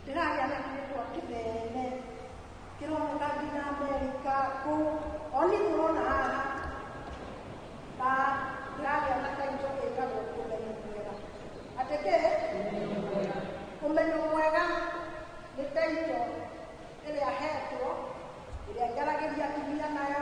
ndĩragĩa na kĩndũ kĩnene kĩroneka nginya amerika kũu oni tũrona haha na ndĩragĩa na kaitũ ĩkagwo ũmenyo mwega atĩ kĩ ũmenyo mwega nĩ taito ĩrĩa hetwo ĩrĩa njaragĩria atumia nayo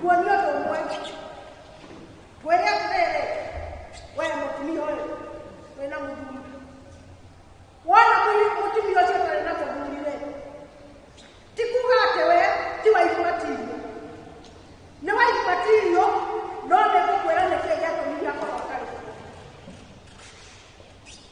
kuonio ũndũ ũmwe kwĩrĩa atĩrĩrĩ we mũtumia ũyũ wĩna mũthuri wona mũi- mũtumia ũcio ũtarĩ na mũthuri rĩ ti kuga atĩ we ti waigwatirio nĩ waigwatirio no nĩ kũkwĩra nĩkĩĩ gĩatũmire akorwo atarĩ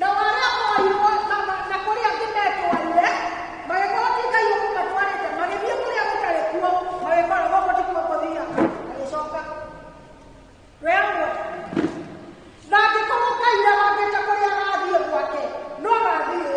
Nao arĩa morirwo na, na, na kũrĩ angĩ metwarire magĩkorwo ti ngai ũkũmatwarĩte magĩthiĩ kũrĩa gũtarĩ kuo magĩkora gũkũ ti kuo kũthiaga magĩcoka werwo na angĩkorwo ngai arangĩte kũrĩa agathiĩ gwake no agathiĩ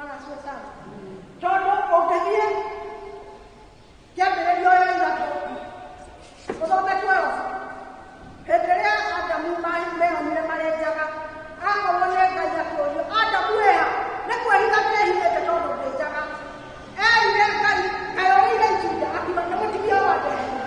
Agatua sana. Tondũ ũngĩthiĩ kĩambĩrĩrio ya ithatũ ũthome twelve hĩndĩ ĩrĩa Adamu ma- meonire marĩ njaga akorwo nĩ Ngai akũũrio Adamu wĩha nĩ kwĩhitha ndehithĩte tondũ ndĩ njaga erire Ngai kaĩ ũrĩire itunda akiuga nĩ mũtumia wa ndehithĩte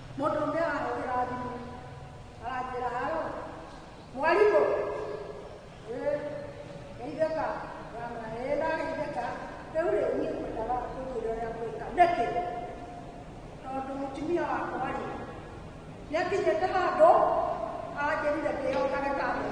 Mũndũ ũmwe arahũthĩra thimũ aranjĩra haro mwarimũ eh, geithĩka mwana eh, ndageithĩka rĩu rĩ niĩ ngwendaga kũnjĩra ũrĩa ngwĩka nĩkĩ tondũ mũtumia wakwa rĩ nĩakinyĩte handũ anjĩrire ndĩyongage kambĩ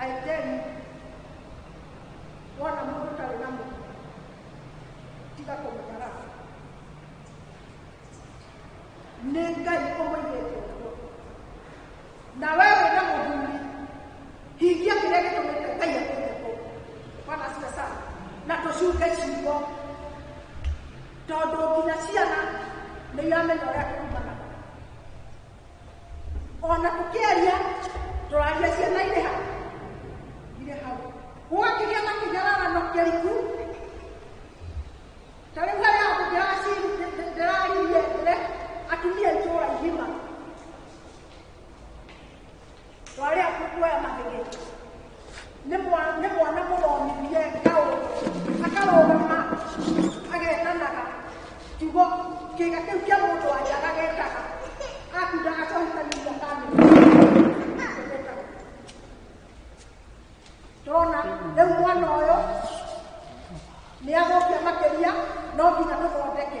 I tell you, wona mũndũ ũtarĩ na mũndũ tiga kũmũnyara nĩ ngai ũmũigĩte ũguo na we wĩ na mũthuri hingia kĩrĩa gĩtũmĩte ngai akũgekwo bwana asiwe sana na tũcunge ciugo tondũ nginya ciana nĩ iramenya ũrĩa kumana ona tũkĩaria tũraria ciana irĩ ha irĩ hau gwakĩgĩa na kĩnyararano kĩriku ta rĩu harĩa andũ ndĩraci- ndĩraririe mbere atumia itũũra igima twarĩa kuoya mahĩgĩ nĩ mwa- nĩ mwana mũromithie ngaũ akarũgama agetanaga kiugo kĩga kĩu kĩa mũndũ wanja agagetaga akunda acohitaniria kamĩgetaga tũrona rĩu mwana ũyũ nĩ agũkia makĩria no nginya tũthondeke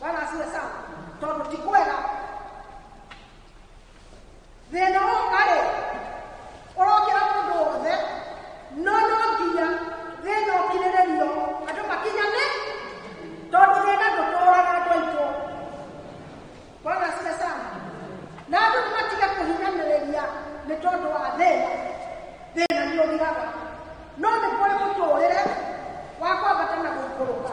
bwana asiwe sana tondu ti kwega thina wokarĩ ũrokĩra mũndũ wothe no no nginya thĩna ũkirĩrĩrio andũ makinyane tondũ thĩna ndũtũraga andũ aitũ bwana asiwe sana na andũ nĩmatiga kũhinyanĩrĩria nĩ tondũ wa thĩna thĩna nĩ ũgiraga no nĩ kũrĩ mũtũũrĩre wa kwambata na gũikũrũka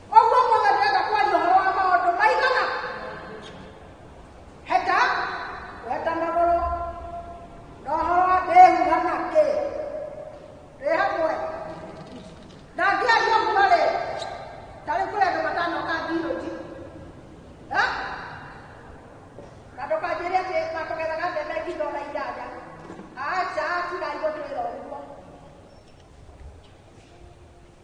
Ũguo ũmũthĩ ndĩrenda kwaria ũhoro wa maũndũ maigana. Heta, weta magũrũ, na ũhoro wa ndĩhuha na kĩ. Ĩ hamwe. Na ngĩaria ũguo rĩ, tarĩ kũrĩ andũ matanoka mbiũnji. Ha? Na ndũkanjĩre atĩ matũgethaga mbembe kilo na inyanya. Aca, tigai gũtwĩra ũguo.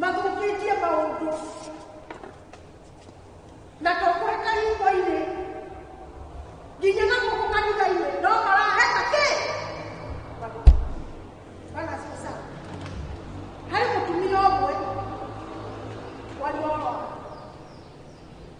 mathũkĩtie maũndũ na tũkweka hingo-inĩ nginya na gũkũ kanitha-inĩ no maraheta kĩ bana sasa harĩ mũtumia ũmwe waliorwa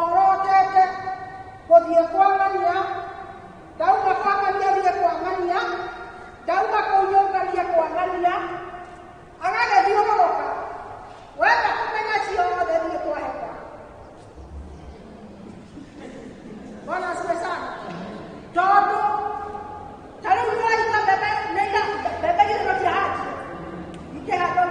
orotete gũthiĩ kwa ng'ania ndauma kwa ng'ania thiĩ kwa ng'ania ndauma kũu nyũmba thiĩ kwa ng'ania agagĩthiũrũrũka wenda kũmenya ciothe thiĩ kwa heka bwana asiwe sana tondũ ta rĩu nĩwaita mbembe nĩira mbembe gĩthino kĩa hati ikĩhandwo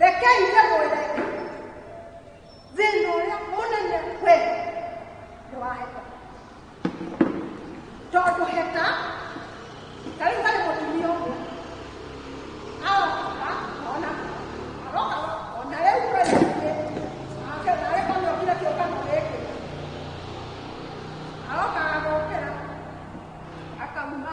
rekei ndĩmwĩre thĩna ũrĩa mũnene we nĩ wa heta tondũ heta ta rĩu harĩ mũtumia ũmwe aroka ona aroka ona rĩu kwendainĩ ake narĩ kana okire kĩũngano gĩkĩ aroka agokĩra akauma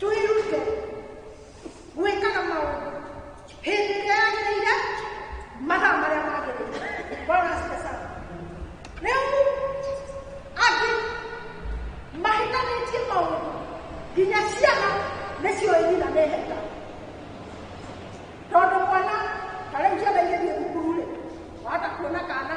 twĩrute gwĩkaga maũndũ hĩndĩ ĩrĩa yagĩrĩire mathaa marĩa magĩrĩire bwana asifiwe sana rĩu angĩ mahitanĩtie maũndũ nginya ciana nĩcio irina nĩ heta tondũ mwana ta rĩu ciana igĩthiĩ thukuru-rĩ wahota kuona kana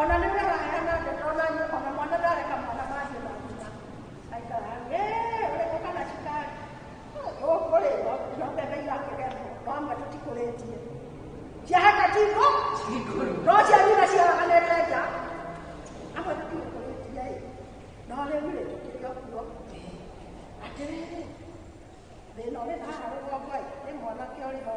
Ona nĩ wega hena ndeka ona ona mwana ndareka mwana mahiũ ma nyina aikara ĩ ũrĩkũ kana cukari ũkũrĩrwo no mbembe irakĩgethwo no amwe tũtikũrĩtie ciaheka tiko no cia nyina ciaraganĩte nja amwe tũtikũrĩtie ĩ no rĩu rĩ tũkĩrĩ okuo atĩrĩrĩ thĩna ũrĩ haha rũgongo ĩ nĩ mwanake ũrĩ ho